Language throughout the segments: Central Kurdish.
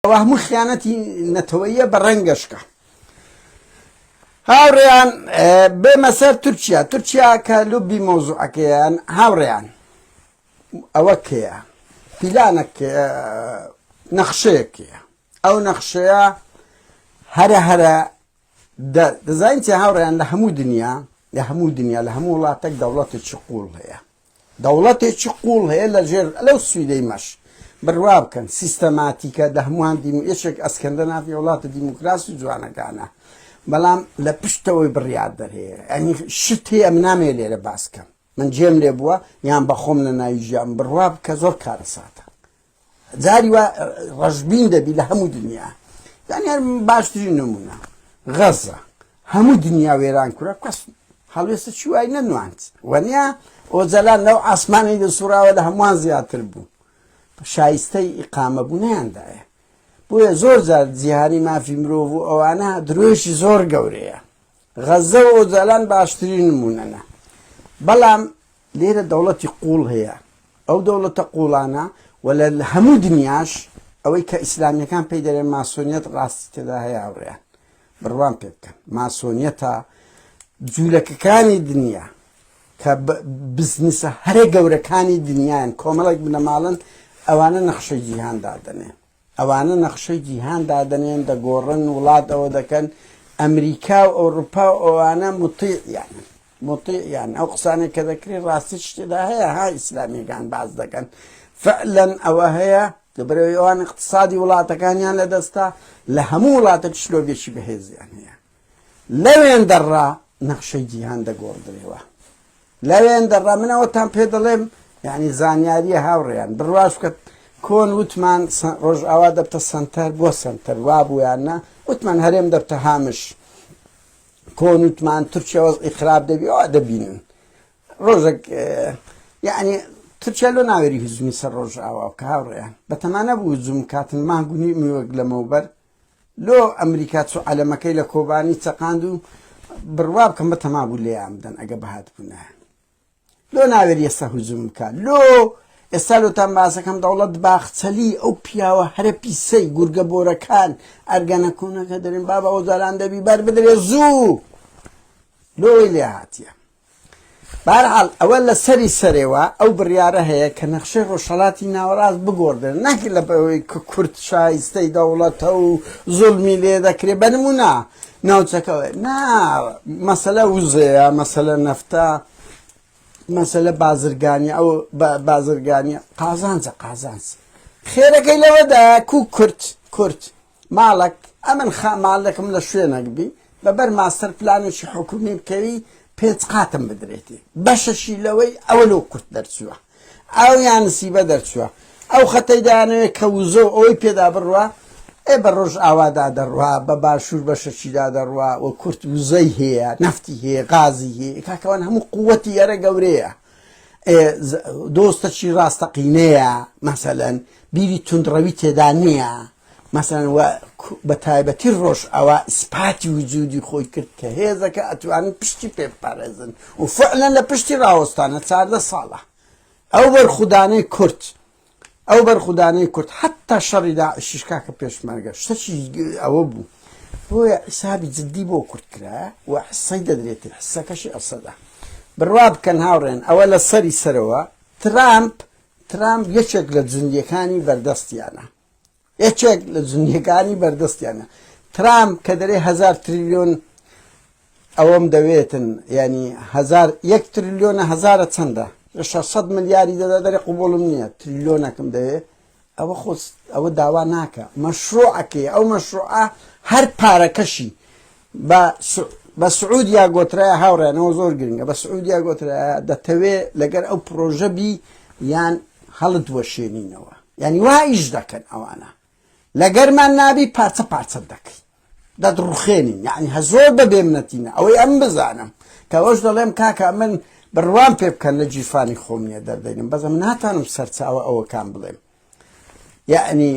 ئەوە هەموو خیانەتی نەتەوەیە بە ڕەنگەشکە هاوڕێیان بێمە سەر تورکیا تورکیا کە لوبی مۆزوعەکەیان هاوڕێیان ئەوە کەیە پیلانە نەخشەیەکەیە ئەو نەخشەیە هەرە هەرە دەزانین چی هاوڕێیان لە هەموو دنیا لە هەموو دنیا لە هەموو وڵاتێک دەوڵەتێکی قوڵ هەیە دەوڵەتێکی قوڵ هەیە لە ژێر لەو سویدەی مەش بروا بکەن سیستەماتیکە دە هەمووان دیم یەشێک ئەسکەندە نافی وڵاتە دیموکراسی و جوانەکانە بەڵام لە پشتەوەی بڕیار دەرەیە ئەنی شت هەیە من نامێ لێرە باسکەم من جێم لێ بووە یان بەخۆم لە ناوی ژیان بڕوا بکە زۆر کارەساتە جاری وا ڕەشبین دەبی لە هەموو دنیا یعنی هەر باشترین نمونە غەزە هەموو دنیا وێران کورە کەس هەڵوێستە چی وای نەنواند وەنیا ئۆجەلان لەو ئاسمانی لە سوڕاوە لە هەمووان زیاتر بوو شایستەی ئیقامە بوو نیاندایە بۆیە زۆر جار جیهانی مافی مرۆڤ و ئەوانە درۆشی زۆر گەورەیە غەزە و ئۆجالان باشترین نموونەن. بەڵام لێرە دەوڵەتی قووڵ هەیە. ئەو دەوڵەتە قووڵانە و لە هەموو دنیاش ئەوەی کە ئیسلامییەکان پێی دەرێن ماسۆنیەت ڕاستی تێدا هەیە هاوڕێیان بڕوام پێ بکەن. ماسۆنیەتە جوولەکەکانی دنیا کە بزنسە هەرە گەورەکانی دنیایان کۆمەڵێک بنەماڵەن ئەوانە نەخشەی جیهان دادەنێن. ئەوانە نەخشەی جیهان دادەنێن دەگۆڕن وڵات ئەوە دەکەن ئەمریکا و ئەوروپا و ئەوانە مطیعیانن مطیعیان ئەو قسانێک کە دەکرێت ڕاستی شتێدا هەیە ها ئیسلامیەکان باز دەکەن فعلەن ئەوە هەیە دەبرەوەی ئەوان اقتصادی وڵاتەکانیان لەدەستا لە هەموو وڵاتە شلۆگەشی بەهێزیان هەیە لەوێن دەڕا نەخشەی جیهان دەگۆڕدرێەوە لەوێن دەڕا من ئەوەتان پێ دەڵێم یعنی زانیاریە هاوڕێیان بڕواش بکە کۆن وتمان ڕۆژئاوا دەبتە سنتەر بۆ سنتەر وا بوویان نا وتمان هەرێم دەبتە هامش کۆن وتمان تورکیا وەزئی خراپ دەبی ئەوە دەبینن ڕۆژێک یعنی تورکیا لۆ ناوێری هزمی سەر ڕۆژئاوا کە هاوڕێیان بەتەمانە بوو زوم کاتن مانگونی میوەک لەمەوبەر لۆ ئەمریکا چوو عەلەمەکەی لە کۆبانی چەقاند و بڕوا بکەم بەتەما بوو لێیان بدەن ئەگە بهاتبوونە لۆ ناوێری ئێستا هجوم بکە لۆ ئێستا لۆتان باسەکەم دەوڵەت باخچەلی ئەو پیاوە هەرە پیسەی گورگە بۆرەکان ئەرگەنە کوونەکە دەرێن بابا ئۆجالان دەبی بەر بدرێ زوو لۆی لێ هاتیە بەهەرحاڵ ئەوە لە سەری سەرێوە ئەو بڕیارە هەیە کە نەخشەی ڕۆژهەڵاتی ناوەڕاست بگۆڕدرێت نەک لە بەوەی کە کورد شایستەی دەوڵەتە و زوڵمی لێ دەکرێت بە نموونە ناوچەکەوە نا مەسەلە وزەیە مەسەلە نەفتە مەسەلە بازرگانی ئەو بازرگانی قازانجە قازانج خێرەکەی لەوەدا کو کورد کورد مالک، ئەمن خا مالکم لە شوێنەک بی بە بەر ماستەر پلانێکی حکوومی بکەوی پێنج قاتم بدرێتی بەشەشی لەوەی ئەوە لەو قورت دەرچووە ئەو یان نسیبە دەرچووە ئەو خەتەی دانەوێت کە وزە و ئەوەی پێدا بڕوا ئێ بە ڕۆژ ئاوادا دەڕوا بە باشوور بەشەچیدا دەڕوا و کورت وزەی هەیە نەفتی هەیە غازی هەیە کاکەوان هەموو قووەتی یارە گەورەیە دۆستەکی ڕاستەقینەیە مەسەلەن بیری تونندڕەوی تێدا نییە مەسەلەن وا بە تایبەتی ڕۆژئاوا ئیسپاتی وجودی خۆی کرد کە هێزەکە ئەتوانن پشتی پێ بپارێزن و فعلەن لە پشتی ڕاوەستانە چاردە ساڵە ئەو بەرخودانەی کورد ئەو بەرخودانەی کورد حتا شەڕی داعشیش کاکە پێشمەرگە شتەکی ئەوە بوو بۆیە حیسابی جددی بۆ کورد کرا و حسەی دەدرێتی حسەکەشی ئەسەدا بڕوا بکەن هاوڕێن ئەوە لە سەری سەرەوە ترامپ ترامپ یەکێک لە جوندیەکانی بەردەستیانە یەکێک لە جنیەکانی بەردەستیانە ترامپ کە دەرێ هزار تریلیۆن ئەوەم دەوێتن ینی هزار یەک تریلیۆنە هزارە چەندە لە 600 ملیاری دەدا دەرێ قوبڵم نییە تریلیۆنەکەم دەوێ ئەوە خۆست ئەوە داوا ناکە مەشروعەکەی ئەو مەشروعە هەر پارەکەشی بە بە سعودیا گۆترایە هاوڕێنەوە زۆر گرنگە بە سعودیا گۆترایە دەتەوێ لەگەر ئەو پرۆژە بی یان هەڵت وەشێنینەوە یعنی وا ئیش دەکەن ئەوانە لەگەرمان نابی پارچە پارچە دەکەی دەدڕخێنین یعنی هە زۆر بە بێمنەتینە ئەوەی ئەم بزانم کەەوەش دەڵێم کاکە من بڕوان پێ بکەن لە جیفانی خۆم نیە دەردەینم بەزم ناتانم سەرچاوە ئەوەکان بڵێم یعنی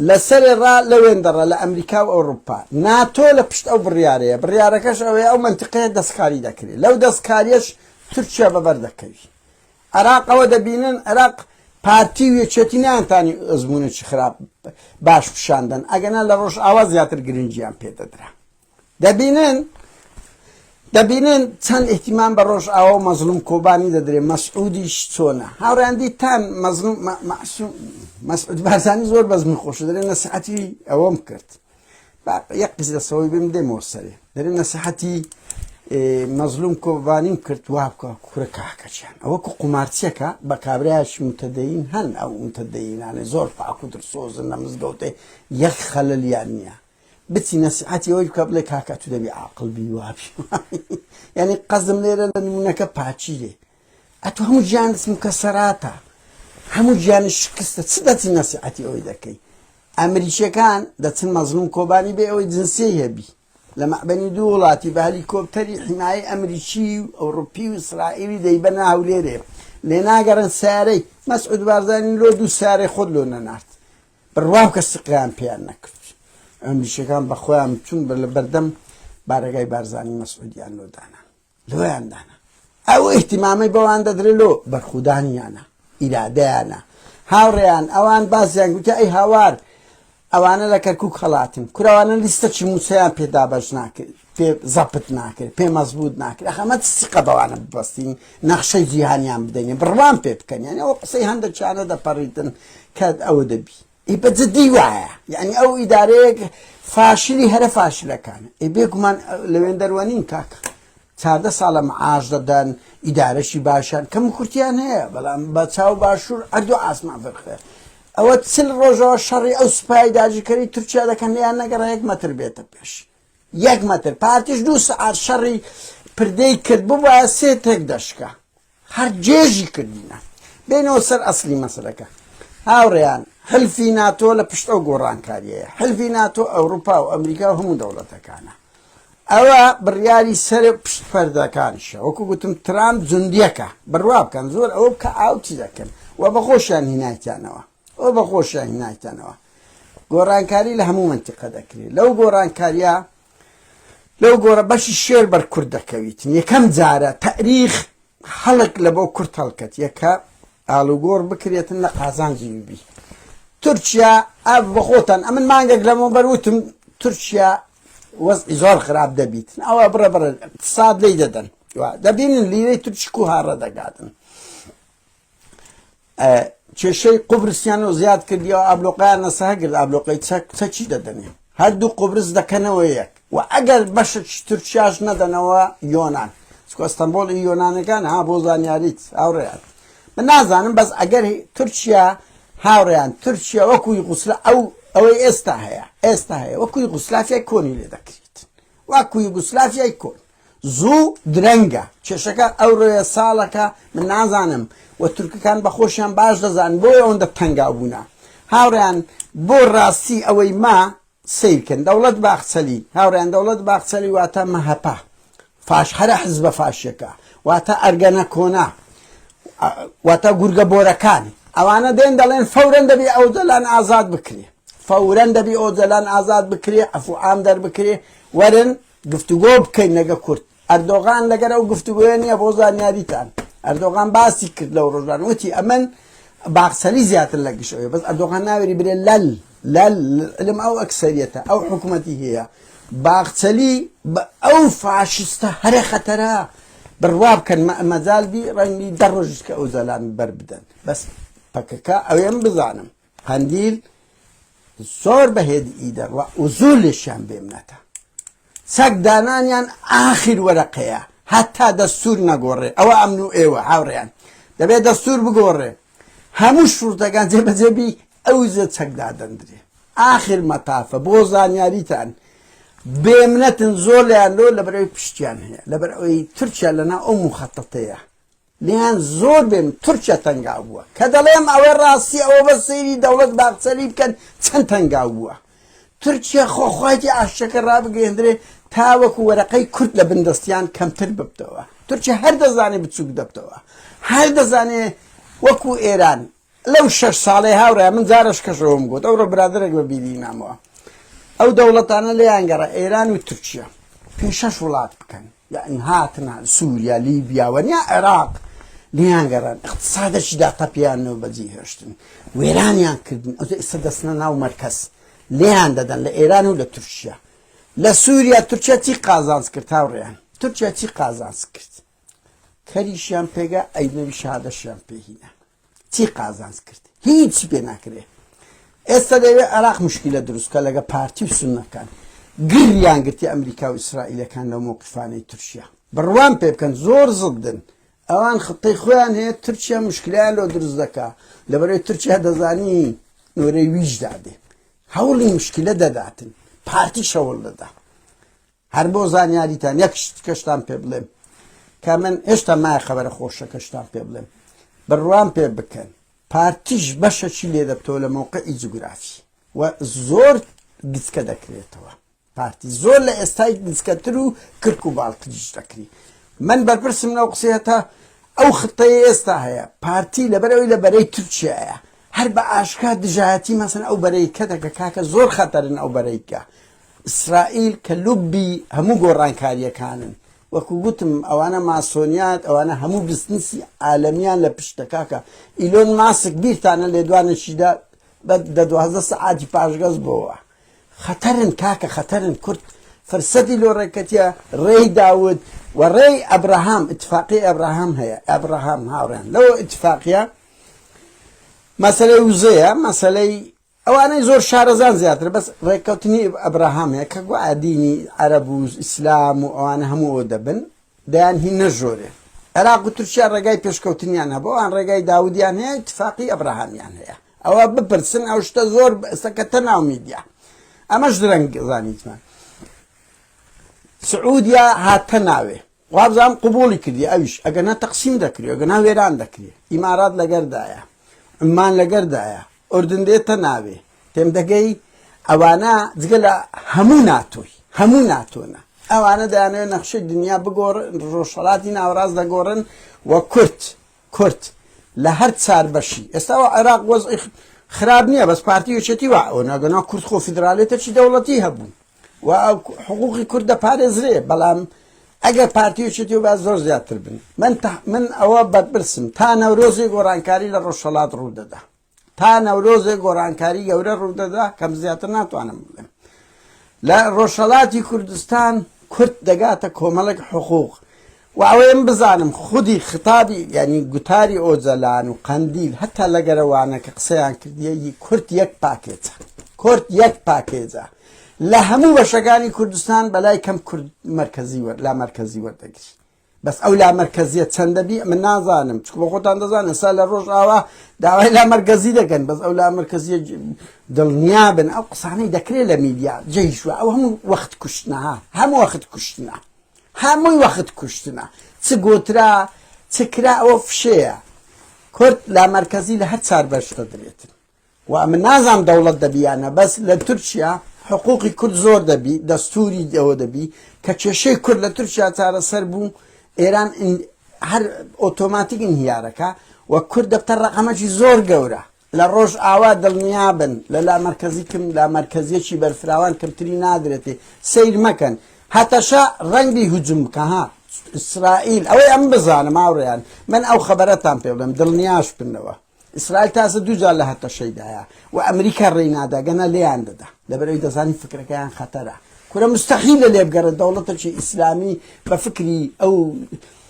لە سەرێ ڕا لە وێندە ڕە لە ئەمریکا و ئەوڕوپا. ناتۆ لە پشت ئەو بڕیارەیە، بڕیارەکەش ئەوەیە ئەو مەنتیقەیە دەستکاری دەکرێ. لەو دەستکارییەش تورکیا بە بەر دەکەوی. عێراق ئەوە دەبینن، عێراق پارتی و یەکێتی نەیانتانی ئەزموونێکی خراپ باش پیشان دەن، ئەگەنا لە ڕۆژئاوا زیاتر گرنگییان پێ دەدرا. دەبینن دەبینن چەند ئیهتیمام بە ڕۆژئاوا و مەزلوم کۆبانی دەدرێ مەسعودیش چۆنە هاوڕیان دیتان مەزلوم مەسعود بارزانی زۆر بەزمی خۆش دەرێ نەسیحەتی ئەوەم کرد یەک قز دەسەوەی بم دێمەوە سەرێ دەرێ نەسیحەتی مەزلوم کۆبانیم کرد وا بکە کورە کاکەچیان ئەوە کو قومارچیەکە بە کابراش متدەین هەن ئەو متدەینانە زۆر پاکو درسۆزن لە مزگەوتێ یەک خەللیان نییە بچی نەسیحەتی ئەوەی بکە بڵێ کاکە تو دەبی عاقڵ بی وابی یعنی قەزم لێرە لە نمونونەکە پاچیرێ ئەتو هەموو گیانت مکەسەراتە هەموو گیانی شکستە چ دەچی نەسیحەتی ئەوەی دەکەی ئەمریکیەکان دەچن مەزلوم کۆبانی بێ ئەوەی جنسی هەبی لە مەعبەنی دوو وڵاتی بە هەلیکۆپتەری حیمایی ئەمریکی و ئەوروپی و ئیسرائیلی دەیبەنە هەولێرێ لێ ناگەرن سارەی مەسعود بارزانانی لۆ دوو سارەی خۆت لۆ نەنارد بڕواکە سقیان پێیان نەکرد ئەمریکیەکان بەخۆیان چون بە لە بەردەم بارەگای بارزانانی مەسعودیان لۆ دانا لۆیان دانا ئەو احتیمامی بەوان دەدرێت لۆ بەرخودانیانە ئیرادەیانە هاوڕێیان ئەوان بازیان گوتە ئەی هاوار ئەوانە لە کەرکک هەڵاتن کوراوانە لیستە چی مووسیان پێدابش ناکرد پێ زەپت ناکرێت پێ مەزبوط ناکرێت ئەخەمە سیقە بەوانە ببستین نەخشەی جیهانیان بدەین بڕوان پێ بکەن یعنی ئەو قسەی هەندێکیانە دەپەڕیتن کە ئەوە دەبی ئی بە جدی وایە یعنی ئەو ئیدارەیەک فاشلی هەرە فاشلەکان ئێ بێگومان لەوێن دەروەنین کاکە چاردە ساڵە معاش دەدەن ئیدارەشی باشیان کەم کورتیان هەیە بەڵام بە چاو باشوور ئەردو ئاسمان فەرخێ ئەوە چل ڕۆژەوە شەڕی ئەو سوپای داجیکەری تورکیا دەکەن یان نەگەڕ هەیەک مەتر بێتە پێش یەک مەتر پارتیش دوو سەعات شەڕی پردێی کرد ببایە سێ تێک دەشکا هەر جێژی کردینە بێنەوە سەر ئەسلی مەسلەکە هاوڕێیان حلفی ناتۆ لە پشت ئەو گۆڕانکاریەیە حلفی ناتۆ ئەوروپا و ئەمریکا و هەموو دەوڵەتەکانە ئەوە بڕیاری سەر پشت پەردەکانشە وەکو گوتم ترامپ جوندیەکە بڕوا بکەن زۆر ئەوە بکە ئاوتی دەکەن و بەخۆشیان هینایتیانەوە ئەوە بە خۆشیان هینایتەنەوە گۆڕانکاری لە هەموو منتیقە دەکرێت لەو گۆڕانکاریە لەو گۆڕە بەشی شێر بەر کورد دەکەویت یەکەم جارە تاریخ خەڵک لە بۆ کورت هەڵکەت یەکە ئالوگۆڕ بکرێتن لە قازانجی بی تورکیا ئەف بەخۆتان ئەمن مانگێک لەمە بەروتم تورکیا وەزی زۆر خراپ دەبیت ئەوە بڕە بڕە ساد لی دەدەن دەبینن لیرەی تورکیک و هاڕە دەگاتن کێشەی قوبرسیان و زیاد کردیەوە ئابلۆقیان نەسەه کرد ئابلۆقی چەک چەکی دەدەنێ هەردوو قوبرس دەکەنەوە یەک و ئەگەر بەشەکی تورکیاش نەدەنەوە یۆناان ئەستەمبۆڵی یۆنانەکان ها بۆ زانیاریت هاوڕێیان من نازانم بەس ئەگەر تورکیا هاوڕێیان تورکیا وەکوی غوسلە ئەو ئەوەی ئێستا هەیە ئێستا هەیە وەکوی غوسلافی کۆنی لێ دەکرێت وەکوی گوسلافی کۆنی زوو درەنگە کێشەکە ئەورۆیە ساڵەکە من نازانم و تورکەکان بەخۆشیان باش دەزان بۆی ئەوەندە تەنگاو بوونە هاوریان بۆ ڕاستی ئەوەی ما سیرکن دەوڵەت باخچەلی هاوریان دەوڵەت باخچەلی واتە مەهەپە فاش هەرە حزبە فاشەکە واتە ئەرگەنە کۆنا واتە گورگە بۆرەکان ئەوانە دێن دەڵێن فورەن دەبی ئەو دەلان ئازاد بکرێ فورەن دەبی ئەو دەلان ئازاد بکرێ ئەفعام دەربکرێ وەرن گفتوگۆ بکەین لەگە کورد ئەردۆغان لەگەر ئەو گفتوگۆیە نییە بۆ زانیاریتان ئەردۆغان باسی کرد لەو ڕۆژان وتی ئەمن باخسەری زیاتر لە گشت ئەوێ بەس ئەردۆغان ناوێری برێ لەل لەل علم ئەو ئەکسەریەتە ئەو حکوومەتی هەیە باخچەلی ئەو فاشستە هەرە خەتەرە بڕوا بکەن مەزال بی ڕەنگی دە ڕۆژیش کە ئەو زەلان بەر بدەن بەس پەکەکە ئەوێم بزانم قەندیل زۆر بە هێد ی دەڕوا و زۆر لێشیان بێمنەتە چەک دانانیان ئاخیر وەرەقەیە هەتا دەستور نەگۆڕێ ئەوە ئەمن و ئێوە هاوڕێیان دەبێت دەستور بگۆڕێ هەموو شوردەکان جێبەجێبی ئەو زە چەک دادەندرێ ئاخر مەتافە بۆ زانیاریتان بێمنەتن زۆر لەیان لۆ لە بەرەوەی پشتیان هەیە لەبەر ئەوەی تورکیا لەنا ئەو مخەتەتەیە لێیان زۆر بێم تورکیا تەنگاو بووە کە دەڵێم ئەوە ڕاستیە ئەوە بە سەیری دەوڵەت باخچەلی بکەن چەند تەنگاو بووە تورکیا خۆ خواتی ئاشتەکە ڕابگەیەندرێ تا وەکو وەرەقەی کورد لە بن دەستیان کەمتر ببتەوە تورکیا هەر دەزانێ بچووک دەبتەوە هەر دەزانێ وەکو ئێران لەو شەش ساڵەی هاورای من جارەش کەشەوەم گوت ئەوڕۆ برادرێک بە بیری مامەوە ئەو دەوڵەتانە لێیان گەڕە ئێران و تورکیا پێ شەش وڵات بکەن یان هاتنا سووریا لیبیا وەنیا عێراق لیان گەڕان اقتصادەکی داتەپیانەوە بەجی هێشتن وێرانیان کردن ئەو ئێستا دەستنە ناو مەرکەز لیان دەدەن لە ئێران و لە تورکیا لە سووریا تورکیا چی قازانس کرد هاوڕێیان تورکیا چی قازانس کرد کەریشیان پێگا ئەی نەوی شادەشیان پێ هینا چی قازانس کرد هیچی پێ ناکرێ ئێستا دەوێ عراق مشکلە دروستکە لەگە پارتی و سنەکان گریان گرتی ئەمریکا و ئیسرائیلەکان لە مووقفانەی تورکیا بڕوان پێ بکەن زۆر زدن ئەوان خطەی خۆیان هەیە تورکیا مشکلیان لۆ دروست دەکا لەبەرەی تورکیا دەزانی نۆرەی ویش دادێ هەوڵی مشکلە دەداتن پارتی شەوڵ دەدا هەر بۆ زانیاریتان یەک شت کەشتان پێ بڵێم کە من هێشتا مای خەبەرە خۆشەکەشتان پێ بڵێم بڕوان پێ بکەن پارتیش بەشەکی لێ دەبتەوە لە مەوقعی جوگرافی و زۆر گچکە دەکرێتەوە پارتی زۆر لە ئێستای گچکەتر و کرک و باڵتریش دەکری من بەرپرسم لەو قسەیەتە ئەو خطەیە ئێستا هەیە پارتی لەبەرەوەی لە بەرەی تورکیایە هەر بە ئاشکا دژایەتی مەسن ئەو بەرەیکە دەکە کاکە زۆر خەتەرن ئەو بەرەیکە ئیسرائیل کە لوبی هەموو گۆڕانکاریەکانن وەکو گوتم ئەوانە ماسۆنیات ئەوانە هەموو بزنسی عالەمیان لە پشتە کاکە ئیلۆن ماسک بیرتانە لێدوانێکیدا بە دە دوازدە سەعاتی پاشگەز بۆوە خەتەرن کاکە خەتەرن کورد فرسەتی لۆ ڕێکەتیە ڕێی داود و ڕێی ئەبراهام اتفاقی ئەبراهام هەیە ئەبراهام هاوڕێن لەوە اتفاقیە مەسلەی وزەیە مەسلەی ئەوانەی زۆر شارەزان زیاترە بەس ڕێککەوتنی ئەبراهامەیە کە گوایە دینی عەرەب و ئیسلام و ئەوانە هەموو ئەوە دەبن دەیان هی نەژۆرێ عێراق و تورکیا ڕێگای پێشکەوتنیان هەبوو ئەوان ڕێگای داودیان هەیە اتفاقی ئەبراهامیان هەیە ئەوە بپرسن ئەو شتە زۆر ئێستەکەتە ناو میدیا ئەمەش درەنگ زانیتمان سعودیا هاتە ناوێ وابزانم قبوڵی کردی ئەویش ئەگەنا تەقسیم دەکری ئەگەنا وێران دەکری ئیمارات لەگەردایە عمان لەگەردایە ئۆردن دێتە ناوێ تێم دەگەی ئەوانە جگە لە هەموو ناتۆی هەموو ناتۆنە ئەوانە دەیانێت نەخشەی دنیا بگۆڕ ڕۆژهڵاتی ناوەڕاست دەگۆڕن و کورت کورت لە هەر چار بەشی ئێستاەوە عێراق وەز خراپ نییە بەس پارتی یەکێتی وا ئەو ناگەنا کورد خۆ فیدراالێتەکی دەوڵەتی هەبوو و حقوقی کورد دەپارێزرێ بەڵام ئەگەر پارتیوچێتی با زۆر زیاتر بن من من ئەوە بەرپرسم تا نەورۆزی گۆڕانکاری لە ڕۆژهڵات ڕوودەدا تا نەورۆزێ گۆڕانکاری گەورە ڕوودەدا کەم زیاتر ناتوانم بڵێم لە ڕۆژهڵاتی کوردستان کورت دەگاتە کۆمەڵک حقوق وە ئەوەیم بزانم خودی خیتابی یانی گوتاری ئۆجەلان و قەندیل هەتا لەگەرە وانە کە قسەیان کردیە ی کورد یەک پاکێجە کورد یەک پاکێجە لە هەموو بەشەکانی کوردستان بەلای کەم کورد مەرکەزی وەر لا مەرکەزی وەردەگری بەس ئەو لا مەرکەزیە چەندە بی من نازانم چکو بە خۆتان دەزان ئێستا لە ڕۆژ ئاوا داوای لا مەرکەزی دەکەن بەس ئەو لا مەرکەزیە دڵنیا بن ئەو قسانەی دەکرێت لە میدیا جێیشوە ئەو هەموو وەخت کوشتنەها هەموو وەخت کوشتنە هەمووی وەخت کوشتنە چ گۆترا چ کرا ئەوە فشەیە کورد لامەرکەزی لە هەر چار بەش دەدرێتن و ئەمە نازام دەوڵەت دەبی یانە بەس لە تورکیا حقوقی کورد زۆر دەبی دەستوری ئەوە دەبی کە کێشەی کورد لە تورکیا چارەسەر بوو ئێران هەر ئۆتۆماتیک ئینهیارەکە و کورد دەبتە ڕقەمەکی زۆر گەورە لە ڕۆژئاوا دڵنیابن لە لامەرکەزی کم لامەرکەزیەکی بەرفراوان کەمتری نادرێتێ سەیر مەکەن هەتەشە ڕەنگ بی هجوم بکە ها ئیسرائیل ئەوەی ئەم بزانم هاوڕێیان من ئەو خەبەرەتان پێ بڵێم دڵنیاش بنەوە ئیسرائیل تازە دووجار لە هەتەشەیدایە و ئەمریکا ڕێی ناداگەنە لێیان دەدا لەبەرەوەی دەزانی فکرەکەیان خەتەرە کورە مستحیلە لێبگەڕێت دەوڵەتێکی ئیسلامی بە فکری ئەو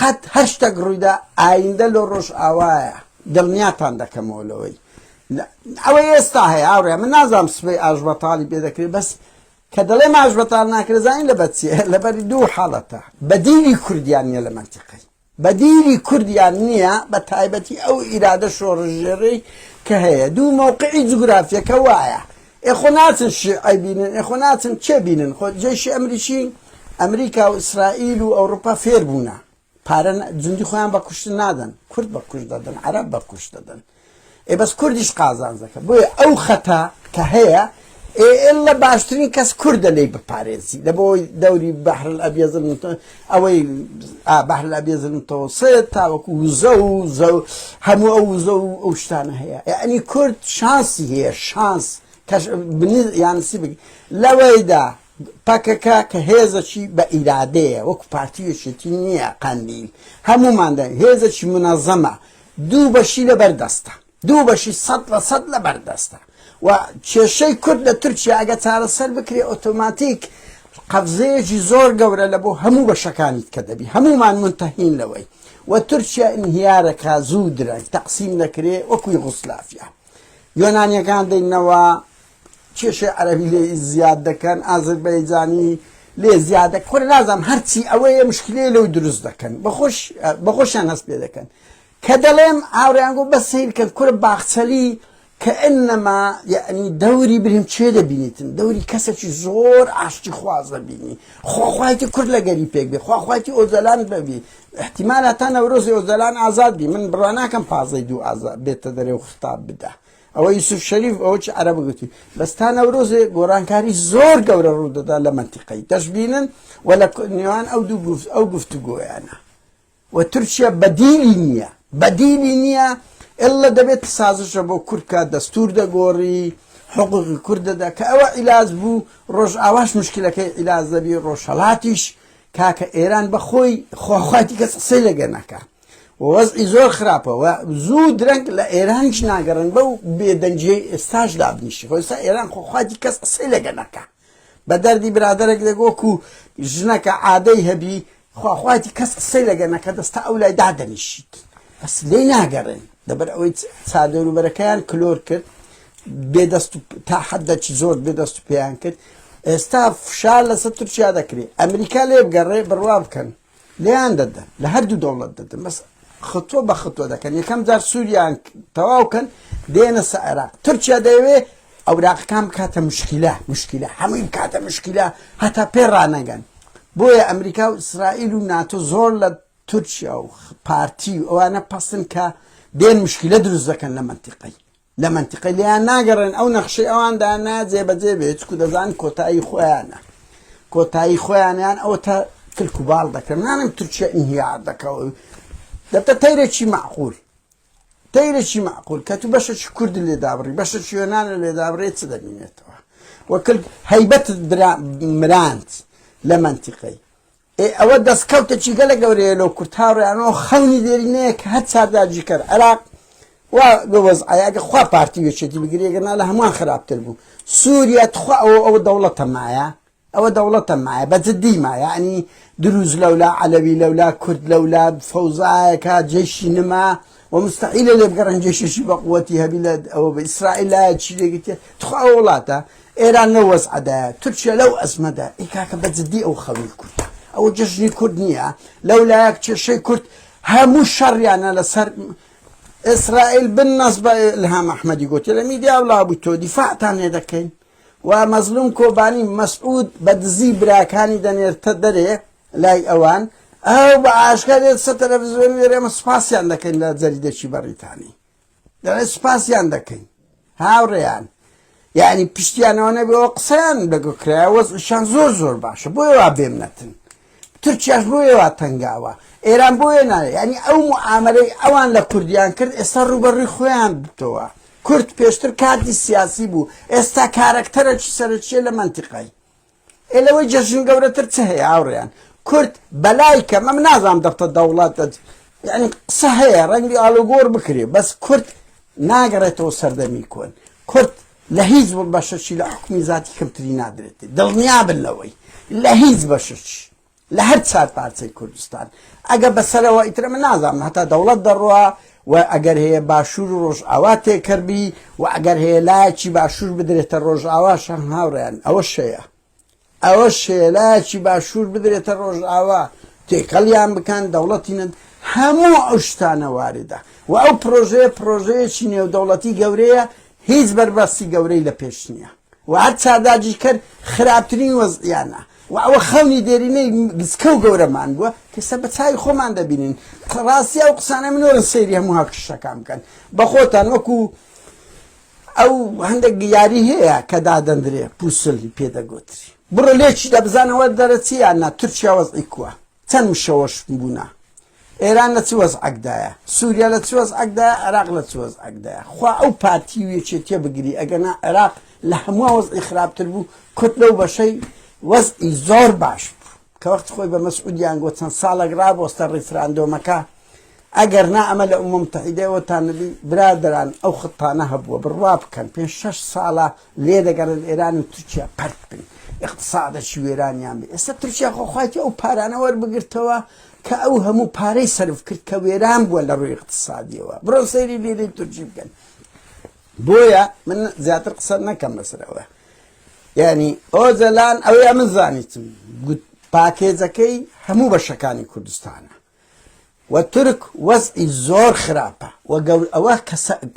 قەت هەر شتەک ڕوویدا ئایندە لۆ ڕۆژئاوایە دڵنیاتان دەکەمەوە لەوەی ئەوەی ئێستا هەیە ئاوڕێ من نازانم سبەی ئاژبەتاڵی بێ دەکرێت بەس کە دەڵێ ماش بەتال ناکرێت زانین لە بەچێ لەبەری دوو حاڵەتە بەدیلی کوردیان نیە لە منتیقی بەدیلی کوردیان نییە بە تایبەتی ئەو ئیرادە شۆڕژێڕی کە هەیە دوو مەوقعی جوگرافیەکە وایە ئێ خۆ ناچن شیعە بینن ئێ خۆ ناچن کێ بینن خۆ جەیشی ئەمریکی ئەمریکا و ئیسرائیل و ئەوروپا فێر بوونە پارە جندی خۆیان بە کوشتن نادەن کورد بە کوشت دەدەن عەرەب بە کوشت دەدەن ئێ بەس کوردیش قازانزەکە بۆیە ئەو خەتە کە هەیە ئێ ئێلە باشترین کەس کوردە لی بپارێزی لە بۆی دەوری بەحر ئەبیەزن ئەوەی ئا بەحر الابیض المتوسط تاوەکو وزە و زە و هەموو ئەو وزە و ئەو شتانە هەیە یعنی کورد شانسی هەیە شانس کەش بنز یانسی بگی لەوەیدا پەکەکە کە هێزەکی بە ئیرادەیە وەکو پارتیوێکێتی نییە قەندیل هەمووماندە هێزەکی منەزەمە دوو بەشی لەبەردەستە دوو بەشی سەد لە سەد لەبەر دەستە و کێشەی کورد لە تورکیا ئەگە چارەسەر بکرێ ئۆتۆماتیک قەفزەیەکی زۆر گەورە لە بۆ هەموو بەشەکانیت کە دەبی هەمومان منتەهین لەوەی و تورکیا ئینهیارەکە زوو درەنگ تەقسیم دەکرێ وەکوی غوسلافیا یۆنانیەکان دەینەوە کێشەی عەربی لێ زیاد دەکەن ئازربەیجانی لێ زیادە خۆر نازانم هەرچی ئەوەیە مشکلێ لەو دروست دەکەن بەخۆش بەخۆشیان هەست پێ دەکەن کە دەڵێم هاوریان گۆ بەس سەیر کەن کورە باخچەلی کەئنما یەعنی دەوری بریم چێ دەبینیتن دەوری کەسەکی زۆر ئاشتی خواز دەبینی خوا خوایەتی کورد لە گەری پێک بێ خوا خوایەتی ئۆجەلان بەبی احتیمال هەتا نەورۆزی ئۆجەلان ئازاد بی من بڕوا ناکەم پازدەی دوو ئازا بێتە دەرێ و خطاب بدا ئەوە یوسف شەریف ئەوە چی عەرەبە گوتی بەس تا نەورۆزێ گۆرانکاری زۆر گەورە ڕوو دەدا لە مەنتیقەی دەشبینن و لە نێوان ئەو دوو گفت ئەو گفتوگۆیانە و تورکیا بەدیلی نیە بەدیلی نیە اللە دەبێت سازشە بۆ کورد بکات دەستور دەگۆری حقوقی کورد دەدا کە ئەوە عیلاج بوو ڕۆژ ئاواش مشکلەکەی عیلاج دەبی ڕۆژهەڵاتیش کاکە ئێران بەخۆی خۆخواتی کەس قسەی لەگە نەکە وەزعی زۆر خراپەوە زوو درەنگ لە ئێرانش ناگەڕن بەو بێدەنجیەی ئێستاش دابنیشی خۆستا ئێران خۆخواتی کەس قسەی لەگە نەکە بە دەردی برادەرێک دەک وەکو ژنەکە عادەی هەبی خوا خوایەتی کەس قسەی لەگە نەکە دەستا ئەو لای دادەنیشیت بەس لێی ناگەڕێن لەبەر ئەوەی چادەوروبەرەکەیان کلۆر کرد بێدەست تا حەدەکی زۆر بێدەست و پێیان کرد ئێستا فشار لەسەر تورکیا دەکرێت ئەمریکا لێ بگەڕێ بڕوا بکەن لێیان دەدەن لە هەردوو دەوڵەت دەدەن بەس خطوە بە خطوە دەکەن یەکەم جار سووریان تەواوکەن دێنە سە عێراق تورکیا دەیەوێ ئەوراقەکان بکاتە مشکیلە مشکیلە هەمووی بکاتە مشکیلە هەتا پێ ڕانەگەن بۆیە ئەمریکا و ئیسرائیل و ناتۆ زۆر لە تورکیا و پارتی و ئەوانە پەسن کە دێن مشکیلە دروست دەکەن لە منتیقی لە مەنتیقەی لێیان ناگەڕێن ئەو نەخشەی ئەوان دانا جێبەجێ بێت چکو دەزان کۆتایی خۆیانە کۆتایی خۆیانیان ئەو تا کلک و باڵ دەکەن نانم تورکیا ئینهیار دەکەوە دەبتە تەیرێکی معقول تەیرێکی معقول کە تو بەشەکی کورد لێ دابڕی بەشەکی وێنانە لێ دابڕێت چ دەبینێتەوە وەکل هەیبەت مرانت لە منتیقەی ئێ ئەوە دەستکەوتێکی گەلە گەورەیە لۆ کورد هاوڕێیان و خەونی دێرینەیە کە هەر چار داگیرکەر عێراق وا لۆ وەزعەیە ئەگەر خوا پارتی و یەکێتی بگری ئەگەر نا لە هەمووان خراپتر بوو سووریا تخوا ئەوە ئەوە دەوڵەتە مایە ئەوە دەوڵەتە مایە بە جدی ما یعنی دروز لەولا عەلەوی لەولا کورد لەولا فەوزایەکە جێشی نما وە مستحیلە لێبگەڕێن جێشێکی بەقوەتی هەبی لە ئەوە بە ئیسرائیل لایە چی لێگرتێ تخوا ئەو وڵاتە ئێران لەو وەزعەدایە تورکیا لەو ئەزمەدا ئی کاکە بە جدی ئەو خەڵی کورد ئەوە جەژنی کورد نییە لەو لایەک کێشەی کورد هەموو شەڕیانە لەسەر ئیسرائیل بن نەس بە الهام ئەحمەدی گوتی لە میدیا و لابوو تۆ دیفاعتان لێ دەکەین و مەزلوم کۆبانی مەسعود بە دزی براکانی دەنێرتە دەرێ لای ئەوان ئەو بە ئاشکرا دێت سەر تەلەفزیۆن دەرێ ئەمە سوپاسیان دەکەین لە جەریدەکی بەڕیتانی دەڵێ سوپاسیان دەکەین هاوڕێیان یعنی پشتیانەوە نەبەوە قسەیان لەگەکرای وەزشان زۆر زۆر باشە بۆی وا بێم نەتن تورکیاش بۆیە وا تەنگاوە ئێران بۆیە ناێ ینی ئەو معاملەی ئەوان لە کوردیان کرد ئێستا ڕوبەڕی خۆیان بتەوە کورد پێشتر کاتی سیاسی بوو ئێستا کارەکتەرەکی سەرچیە لە منتیقای ئێ لەوەی جەژن گەورەتر چ هەیە هاوڕێیان کورد بەلای کەمە من نازانم دەفتە دەوڵەت یعنی قسە هەیە ڕەنگی ئالوگۆر بکرێ بەس کورد ناگەڕێتەوە سەردەمی کۆن کورد لە هیچ بەشەشی لە حکومی زیاتی کەمتری نادرێتی دڵنیا بن لەوەی لە هیچ بەشەشی لە هەر چار پارچەی کوردستان ئەگە بەسەرەوە ئیترە من نازانم هەتا دەوڵەت دەڕوا و ئەگەر هەیە باشوور و ڕۆژئاوا تێکەربی و ئەگەر هەیە لایەکی باشوور بدرێتە ڕۆژئاوا شەم هاوڕێن ئەوە شەیە ئەوە شێلایەکی باشوور بدرێتە ڕۆژئاوا تێکەڵیان بکەن دەوڵەتینن هەموو ئەو شتانە واردە و ئەو پرۆژەیە پرۆژەیەکی نێودەوڵەتی گەورەیە هیچ بەرباستی گەورەی لە پێش نییە وە هەر چارداجی کەر خراپترین وەزعیانە وە ئەوە خەونی دێرینەی گسکە و گەورەمان بووە کە ئێستا بە چاوی خۆمان دەبینین ڕاستی ئەو قسانە منۆرن سەیری هەموو هاکشتەکان بکەن بە خۆتان وەکو ئەو هەندێک یاری هەیە کە دادەندرێ پوسلی پێدەگوتری بڕۆ لێکی دەبزانەوە دەرەچیان نا تورکیا وەزعی کووە چەند مشەوەش بوونا ئێران لە چ وەزعەکدایە؟ سوریا لە چ وەزعەکدایە؟ عێراق لە چ وەزعەکدایە؟ خوا ئەو پارتی و یەکێتیە بگری ئەگەنا عێراق لە هەموان وەزعی خراپتر بوو کورد لەو بەشەی وەزعی زۆر باش بوو کە وەخت خۆی بە مەسعودیان گۆ چەند ساڵەک ڕابۆستە ڕیفراندۆمەکە ئەگەر نا ئەمە لە ئەو ممتحیدەوەتان نبی برادران ئەو خطانە هەبووە بڕوا بکەن پێ شش ساڵە لێ دەگەڕێن ئێران و تورکیا پەرت بن اقتصادەکی وێرانیان بێ ئێستا تورکیا خۆخواتی ئەو پارانە وەربگرتەوە کە ئەو هەموو پارەی سەرف کرد کە وێران بووە لە ڕووی اقتصادیەوە بڕۆ سەیری لیرەی تورکی بکەن بۆیە من زیاتر قسە نەکەم بەسەرەوە یعنی ئۆجەلان ئەوەیە من زانیتم گوت پاکێجەکەی هەموو بەشەکانی کوردستانە و تورک وەزئی زۆر خراپە و گەور ئەوە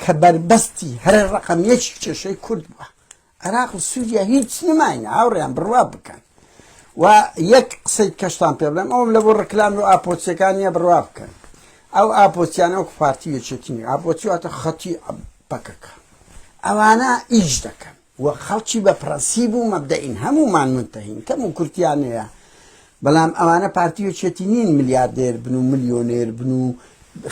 کە بەربەستی هەر ڕقم یەکی کێشەی کورد بووە عێراق و سوریا هیچ نماینە هاوڕێیان بڕوا بکەن و یەک قسەی کەشتان پێ بڵێم ئەوم لە بۆ ڕکلام و ئاپۆچیەکان نیە بڕوا بکەن ئەو ئاپۆچیانە وەک پارتی یەکێتین ئاپۆچی واتە خەتی پەکەکە ئەوانە ئیش دەکەن و خەڵکی بە پرەنسیب و مەبدەین هەمومان منتەهین کەم و کورتیانەیە بەڵام ئەوانە پارتی یەکێتی نین ملیاردێر بن و ملیۆنێر بن و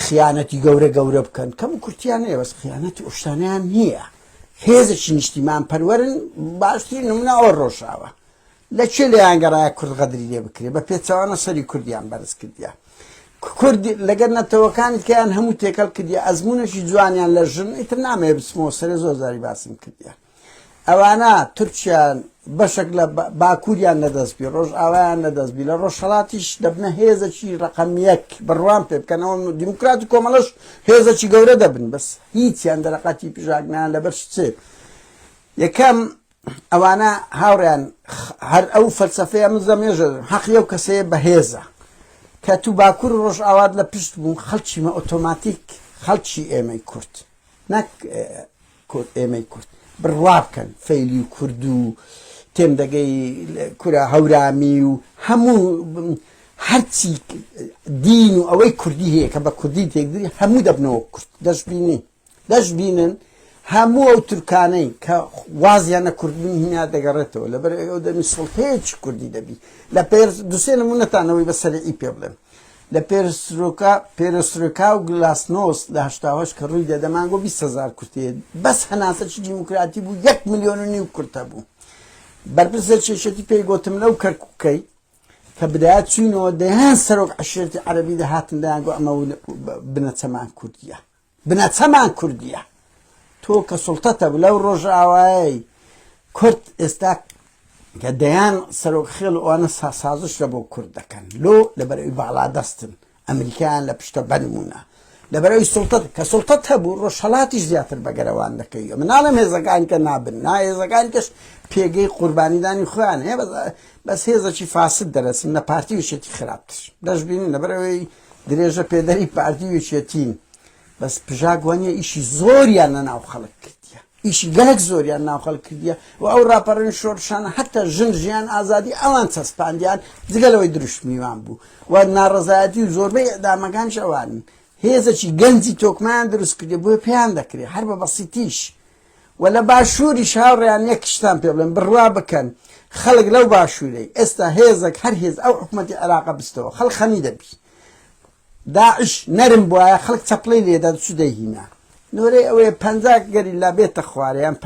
خیانەتی گەورە گەورە بکەن کەم و کورتیانەیە بەس خیانەتی ئۆشتانیان نییە هێزێکی نیشتیمان پەروەرن باشترین نمونە ئەوە ڕۆژاوە لە چێ لەیان گەڕایە کورد غەدری لێ بکرێ بە پێچوانە سەری کوردیان بەرز کردیا کورد لەگەر نەتەوەکانی کەیان هەموو تێکەڵ کردی ئەزمونونەشی جوانیان لە ژن ئیتر نامێ بچمەوە سەرێ زۆر زاری باسم کردیا ئەوانە تورکیان بەشێک لە باکووریان نەدەستبی ڕۆژ ئاوایان نەدەستبی لە ڕۆژهڵاتیش دەبنە هێزەکی ڕقەمیەک بڕوان پێ بکەنەوە دیموکرات و کۆمەڵش هێزەکی گەورە دەبن بەس هیچیان دەرەقەتی پژاک نان لەبەر چێ یەکەم ئەوانە هاوڕیان هەر ئەو فەلسەفەیە من زەمێژە حەقی ئەو کەسەیە بەهێزە کە تو باکوور ڕۆژ ئاوات لە پشت بوو خەڵکیمە ئۆتۆماتیک خەڵکی ئێمەی کورت نەک کورد ئێمەی کورد بڕوا بکەن فەیلی کوردو تێم دەگەی کورە هەورامی و هەموو هەرچی دین و ئەوەی کوردی هەیە کە بە کوردی تێکدری هەموو دەبنەوە کورد دەشببینی دەشببینن هەموو ئەو تورکانەی کە وازیان نە کوردبوون هینا دەگەڕێتەوە لەبەر ئەو دەمی سڵتەیەکی کوردی دەبی لە پێر دوسێ نمونەتانەوەی بەسەرعی پێ بڵێن لە پێرسترۆکا، Perestroika، و گلاسنۆست لە هەشتا و هەشت کە ڕووی دەدە مانگۆ بیست هەزار کورتە هەیە بەس هەناسە چ دیموکراتی بوو یەک ملیۆن و نیو کورت هەبوو بەرپرس لە چێشێتی پێی گۆتم لەو کەرکوکەی کە بدایە چوینەوە دەیان سەرۆک عشێرتی عەربی دەهاتن دەیانگۆ ئەمە بنەچەمان کوردیە بنەچەمان کوردیە تۆ کە سوڵتەتە بلەو ڕۆژئاوایەی کورد ئێستا کە دەیان سەرۆک خێڵ و ئەوانە سازش لە بۆ کورد دەکەن لۆ لەبەرەوەی باڵا دەستن ئەمریکایان لە پشتە بەنمونە لەبەرەوەی سوڵتەت کە سوڵتەت هەبوو ڕۆژهەڵاتیش زیاتر بەگەرەوان دەکەی من ناڵێم هێزەکان کە نابن نا هێزەکان کەش پێگەی قوربانیدانی خۆیان هەیە بەس هێزەکی فاسد دەرەچن لە پارتی وشێتی خراپتر دەشببینین لەبەرەوەی درێژە پێدەری پارتی و یەکێتین بەس پژاک وانە ئیشی زۆریان لە ناو خەڵک کردیە ئیشی گەلک زۆریان ناو خەڵک کردیە و ئەو راپەڕین شۆرشانە هەتا ژن ژیان ئازادی ئەوان چەسپاندیان جگەلەوەی دروشمیوان بوو و ناڕزایەتی و زۆربەی ئەدامەکانش ئەوان هێزەکی گەنجی تۆکمان دروست کردی بۆ پێیان دەکرێت هەر بە بەسیتیش وە لە باشوریش هاوڕێیان یەک شتان پێ بڵێم بڕوا بکەن خەڵک لەو باشورەی ئێستا هێزەک هەر هێز ئەو حکومەتی عێراقە بستەوە خەڵک خەمی دەبی داعش نەرم بواە خەڵک چەپڵەی لێدا چ دەیهینا نۆرەی ئەوەیە پ گەریلا بێتە خوارەیان پ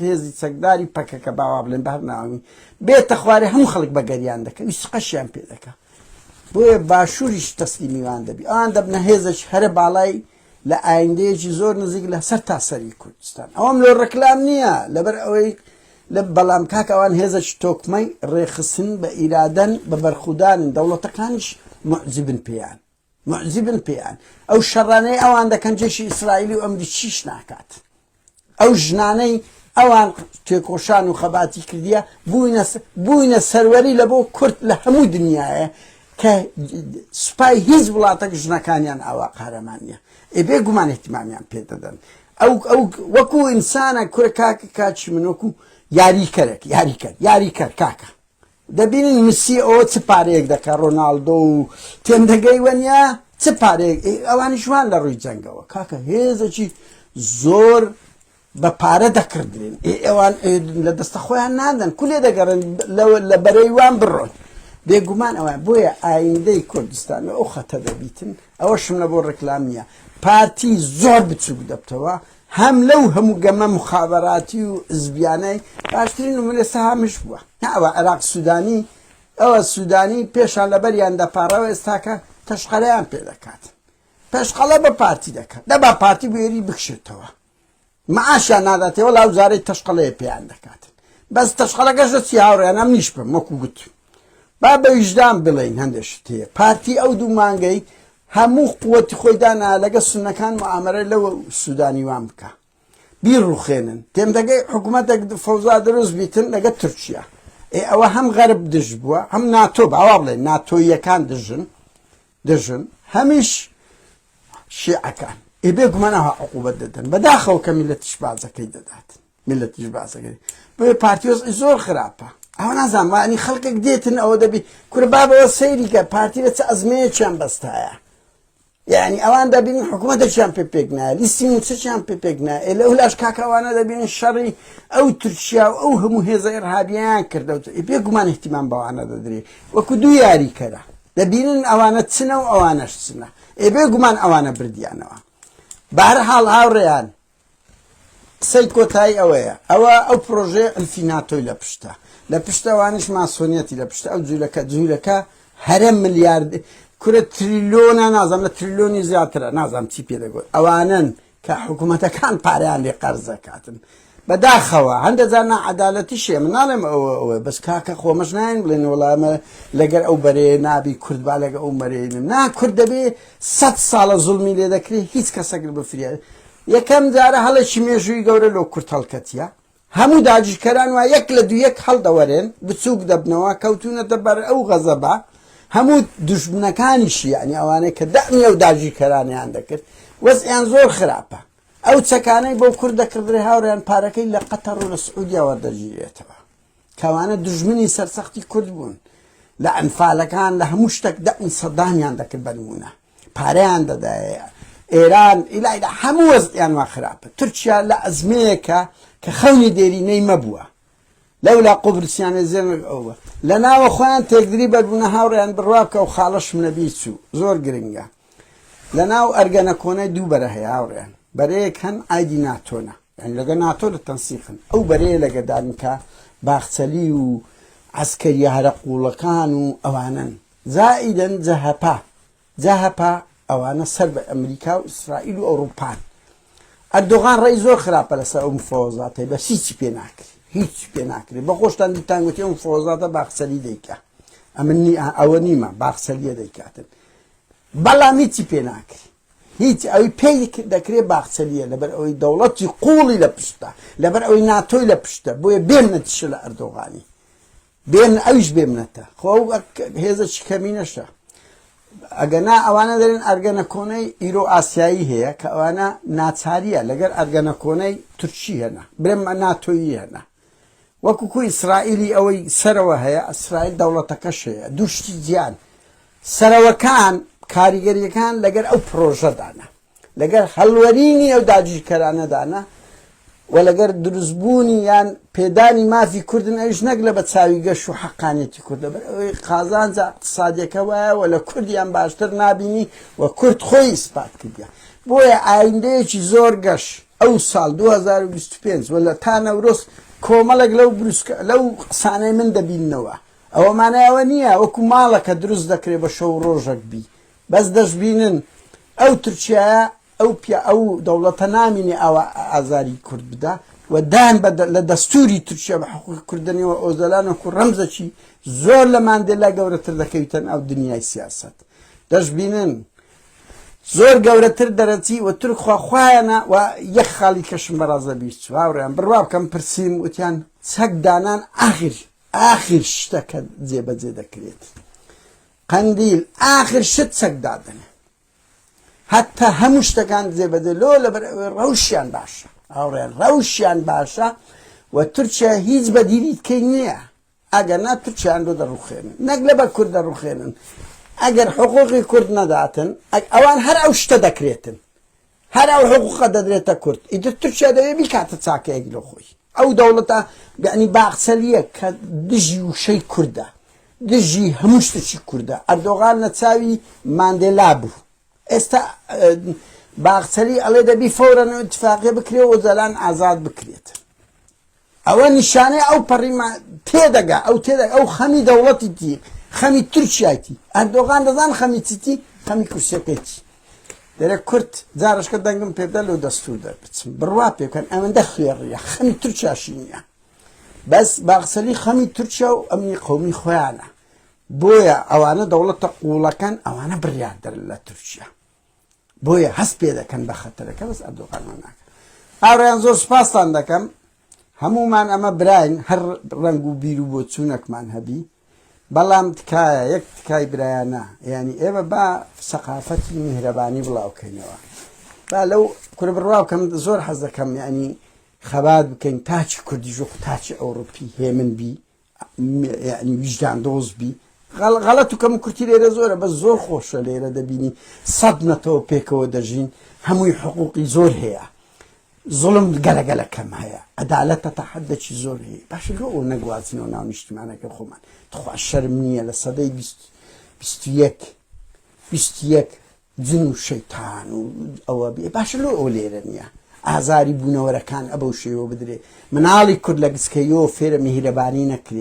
هێزی چەکداری پەکەکە باوا بڵێن بەر ناوی بێتە خوارێ هەموو خەڵک بە گەریان دەکەن سقەشیان پێ دەکە بۆیە باشووریش تەسلیمیوان دەبی ئەوان دەبنە هێزش هەرە باڵای لە ئایندەیەکی زۆر نزیک لە سەر تا سەری کوردستان ئەوەم لۆ ڕکلام نییە لەبەر ئەوەی لە بەڵام کاک ئەوان هێزەکی تۆکمەی ڕێخستن بە ئیرادەن بە بەرخودانن دەوڵەتەکانش معجبن پێیان معجبن پێیان ئەو شەڕانەی ئەوان دەکەن جێشی ئیسرائیلی و ئەمریکیش ناکات ئەو ژنانەی ئەوان تێکۆشان و خەباتی کردیە بووینە سەروەری لە بۆ کورد لە هەموو دنیاە کە سوپای هیچ وڵاتەک ژنەکانیان ئاوا قارەمانە ئێ بێ گومان احتیمامیان پێ دەدەن ئەو ئەو وەکو ئینسانە کورە کاکە کاچی من وەکو یاریکەرێک یاریکەر یاریکەر کاکە دەبینن میسی ئەوە چ پارەیەک دەکە ڕۆناالدۆ و تێم دەگەی وەنیا چ پارەیەک ئەوانی شوان لە ڕووی جەنگەوە کاکە هێزەکی زۆر بە پارە دەکردرێن ئێوان لە دەستە خۆیان نادەن کولێ دەگەڕن لە بەرەی وان بڕۆن بێگومان ئەوە بۆیە ئایندەی کوردستان ئەو خەتە دەبیتن ئەوە شمە بۆ ڕێکلام نیە پارتی زۆر بچوک دەبتەوە هەم لەو هەموو گەمە موخابەراتی و عزبیانەی باشترین نمونە سەهامش بووە نا ئەوە عێراق سودانی ئەوە سودانی پێشان لەبەریان دەپاڕەوە ئێستاکە تەشقەرەیان پێ دەکات پێشقەڵە بە پارتی دەکات دەبا پارتی بوێری بکشێتەوە معاشیان ناداتێ وەڵا وزارەی تەشقەڵەیە پێیان دەکات بەس تەشقەڵەکەش لە چی هاوڕێن ئەم نیش بم وەکو گوت با بە ویژدان بڵێین هەندێک شت هەیە پارتی ئەو دوو مانگەی هەموو قوتی خۆی دانا لەگە سونەکان معامەرە لەو سوودانی وان بکە بیڕوخێنن تێمدەگەی حکوومەتێک فەوزا دروست بیتن لەگە تورکیا ئێ ئەوە هەم غەرب دژ بووە هەم ناتۆ باوا بڵێ ناتۆیەکان دژن دژن هەمیش شیعەکان ئێ بێ گومانەوە عقوبەت دەدەن بەداخەوە کە میلەتیش بازەکەی دەدات میللەتیش باسە گەری بۆیە پارتی وەزعی زۆر خراپە ئەوە نازانم وانی خەڵکێک دێتن ئەوە دەبی کورە بابەوە سەیریکە پارتی لە چ ئەزمەیەکیان بەستایە یعنی ئەوان دەبین حکوومەتەکیان پێ پێک نایە لیستی موچەکیان پێ پێک نایە لە ئەو لاش کاکەوانە دەبین شەڕی ئەو تورکیا و ئەو هەموو هێزە ئێرهابیان کردەوە پێ گومان احتیمان بەوانە دەدرێ وەکو دوو یاری کەرە دەبینن ئەوانە چنە و ئەوانەش چنە ئێ بێ گومان ئەوانە بردیانەوە بارە حاڵ هاوڕێیان قسەی کۆتایی ئەوەیە ئەوە ئەو پرۆژەیە ئەلفی ناتۆی لە پشتە لە پشتەوانیش ماسۆنیەتی لە پشتە ئەو جوولەکە جوولەکە هەرە ملیارد کورە تریلۆنە نازم لە تریلۆنی زیاترە نازم چی پێ دەگوت ئەوانن کە حکوومەتەکان پاریان لێ قەرزەکاتن بەداخەوە هەندە جار نەعەدالەتی شێ من ناڵێم ئەوە ئەوە بەس کاکە خۆمەش ناین بڵێن وڵامە لەگەر ئەو بەرێ نابی کوردبا لەگە ئەو مەرێنم نا کورد دەبێ سە ساڵە زڵمی لێ دەکرێت هیچ کەسەگر بفریاد یەکەم جارە هەڵێکی مێژووی گەورە لۆ کورد هەڵکەتیە، هەموو داگیرکەران وا یەک لە دوو یەک هەڵدەوەرێن، بچووک دەبنەوە، کەوتوونەتە بەر ئەو غەزەبە، هەموو دوژمنەکانیشی یانی ئەوانەی کە دەعمی ئەو داگیرکەرانەیان دەکرد وەزعیان زۆر خراپە، ئەو چەکانەی بۆ کورد دەکڕدرێ هاوڕێیان پارەکەی لە قەتەڕ و لە سعودیە وەردەگیرێتەوە. کەوانە دوژمنی سەرسەختی کورد بوون لە ئەنفالەکان لە هەموو شتێک دە سەدامیان دەکرد بەنمونە پارەیان دەدایە ئێران ئیلایدا هەموو وەزیان وا خراپە تورکیا لە ئەزمەیەکە کە خەونی دێرینەی مەبووە لەولا قوبرسیانە زێنگ ئەوە لە ناوە خۆیان تێکدری بەربوونە هاوڕێیان بڕواکە و خاڵەشم نەبی چوو زۆر گرنگە لە ناو ئەرگەنە کۆنای دوو بەرە هەیە هاوڕێیان بەرەیەک هەن ئایدی ناتۆنە یعنی لەگە ناتۆ لە تەنسیقن ئەو بەرەیە لەگە دانکە باخچەلی و عسکەریە هەرە قوڵەکان و ئەوانن زائیدن جەهەپە جەهەپە ئەوانە سەر بە ئەمریکا و ئیسرائیل و ئەوروپان ئەردۆغان ڕێی زۆر خراپە لەسەر ئەو مفۆزاتەی بەس هیچی پێ ناکرێت هیچ پێ ناکرێت بە خۆشتان دیتانگوتی ئەو مفۆزاتە باخچەلی دەیکە ئەمنی ئەوە نیمە باخچەلیە دەیکاتن بەڵام هیچی پێ ناکری هیچ ئەوی پێی دەکرێ باخچەلیە لەبەر ئەوەی دەوڵەتی قوڵی لە پشتە لەبەر ئەوەی ناتۆی لە پشتە بۆیە بێن نەتیشە لە ئەردۆغانی بێن ئەویش بێمنەتە خۆ هێزە چی کەمی نەشە ئەگەنا ئەوانە دەرێن ئەرگەنە کۆنەی ئیرۆ ئاسیایی هەیە کە ئەوانە ناچاریە لەگەر ئەرگەنە کۆنەی تورکی هەنا برێمە ناتۆیی هەنا وەکو کو ئیسرائیلی ئەوەی سەرەوە هەیە ئەسرائیل دەوڵەتەکەش هەیە دوو شتی جیان سەرەوەکان کاریگەریەکان لەگەر ئەو پرۆژەدانە لەگەر هەلوەرینی ئەو داگیرکەرانەدانە و لەگەر دروستبوونی یان پێدانی مافی کوردن ئەوش نەک لە بە چاوی گەش و حەقانێتی کوردە بەر ئەوەی قازانجە اقتصادیەکە وایە و لە کوردیان باشتر نبینی و کورد خۆی ئیسپات کردە بۆیە ئایندەیەکی زۆر گەش ئەو ساڵ دوو هەزار و بیست و پێنج و لە تا نەورۆز کۆمەڵێک لەو بروسکە لەو قسانەی من دەبیننەوە ئەوە مانای ئەوە نییە وەکو ماڵەکە دروست دەکرێ بە شەو و ڕۆژەک بی بەس دەشبینن ئەو تورکیایە ئەو پیا ئەو دەوڵەتە نامینێ ئاوا ئازاری کورد بدا و دان بە لە دەستوری تورکیا بە حقوقی کوردنیەوە ئۆزەلان وەکو ڕەمزەکی زۆر لە ماندێلا گەورەتر دەکەویتەن ئەو دنیای سیاست دەشبینن زۆر گەورەتر دەرەچی و تورک خوا خوایەنە و یەک خاڵی کەشم بەڕازە بیست چوو هاوڕێیان بڕوا بکەم پرسیم وتیان چەک دانان ئاخر ئاخر شتەکە جێبەجێ دەکرێت قەندیل ئاخر شت چەک دادن هەتا هەموو شتەکان جێبەجێ لۆ لەبەر ڕەوشیان باشە هاوڕێن ڕەوشیان باشە و تورکیا هیچ بەدیریتکەی نییە ئەگەر نا تورکیایان لۆ دەڕوخێنن نەک لەبەر کورد دەڕوخێنن ئەگەر حقوقی کورد نەداتن ئەوان هەر ئەو شتە دەکرێتن هەر ئەو حقوقە دەدرێتە کورد ئیتر تورکیا دەوێ بیکاتە چاکەیەک لۆ خۆی ئەو دەوڵەتە یعنی باخچەلیە کە دژی وشەی کوردە دژی هەموو شتێکی کوردە ئەردۆغان لە چاوی ماندێلا بوو ئێستا باخچەلی ئەڵێ دەبی فەورەن و اتفاقێ بکرێ و جەلان ئازاد بکرێت ئەوە نیشانەی ئەو پەڕی ما تێدەگا ئەو تێدەگا ئەو خەمی دەوڵەتی تی خەمی تورکیاتی ئەردۆغان دەزان خەمی چیتی خەمی کورسیەکەیتی دەرێ کورت جارشکە دەنگم پێدا لەو دەستور دەربچم بڕوا پێکەن ئەوەندە خوێڕیە خەمی تورکیاشی نییە بەس باقسەلی خەمی تورکیا و ئەمنی قومی خۆیانە بۆیە ئەوانە دەوڵەتە قوڵەکان ئەوانە بڕیاردەر لە تورکیا بۆیە هەست پێ دەکەن بە خەتەرەکە بەس ئەردۆغانمان ناکەن ئاڕیان زۆر سپاستان دەکەم هەمومان ئەمە براین هەر ڕنگ و بیر و بۆ چوونەکمان هەبی بەڵام تکایە یەک تکای برایانە ینی ئێوە با سەقافەتی میهرەبانی بڵاوکەینەوە با لەو کورە بڕواکەم زۆر حەز دەکەم ینی خەبات بکەین تاچی کوردی ژۆخ تاچی ئەوروپی هێمن بی یانی ویژدان دۆز بی غەڵەت و کەم کورتی لێرە زۆرە بە زۆر خۆشە لێرە دەبینی سەد نەتەوە پێکەوە دەژین هەمووی حقوقی زۆر هەیە زڵم گەلەگەلە کەم هەیە عدالەتە تا حدەکی زۆر هەیە باش لۆ ئەو نەگوازنەوە ناو نیشتمانەکە خۆمان تخوا شەرم نییە لە سەدەی بیست بیست یەک بیست یەک جن و شەیتان و ئەوە بێ باشە لۆ ئەو لێرە نییە ئازاری بوونەوەرەکان ئەبەو شێوە بدرێ مناڵی کورد لە گسکەیۆ فێرە میهرەبانی نەکرێ